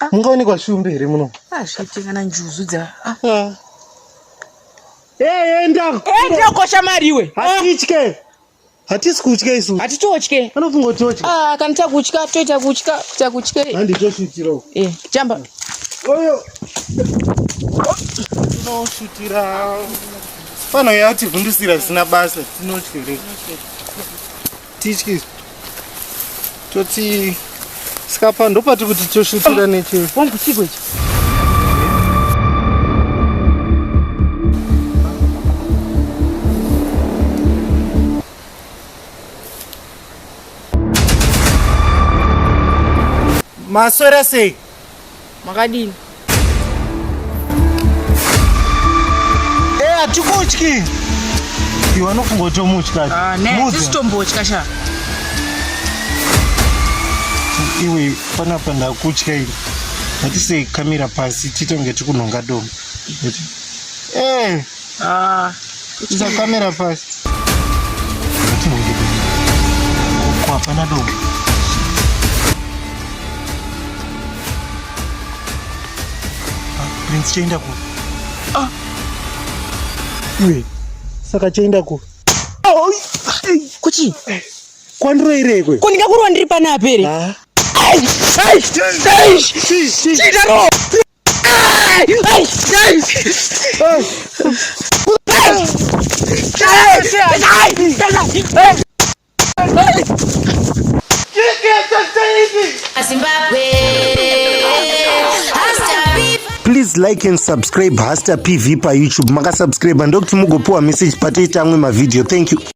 Ah. Mungaonekwa shumbe here muno? Ah, zvete kana njuzu dza. Ah. ah. Eh, enda. Enda kosha mari iwe. Hatitye. Ah. Hatisi kutya isu. Hatitotye. Anofunga kuti totya. Ah, kana takutya toita kutya, kuita kutya. Handi toshitira. Eh, jamba. Oyo. Tinoshitira. Pano yativhundusira zvisina basa. Tinotya here? Tichi toti skapa ndopati kuti toshutira neche wangu chiko ichi maswera sei Makadini? Eh, hatikutyi. Iwe anofunga kuti omutya. Ah, ne, tisi tombotya sha. Iwe panapa ndakutya iwe. Hatise kamira pasi titonge tikunhonga domo. Eh. Ah, Isa kamera pasi. Kwa hapana domo. Ah, Prince chaenda ku. Ah. Iwe. Saka chaenda ku. Oh, kuchi. Eh, Kwandiro ire kwe. Ko ndingakurwa ndiri pana apere. Ah. Ai, ai, ai. Chidaro. please like and subscribe hasta pv payoutube makasubscribe ndokuti mugopiwa message patoita amwe mavideo thank you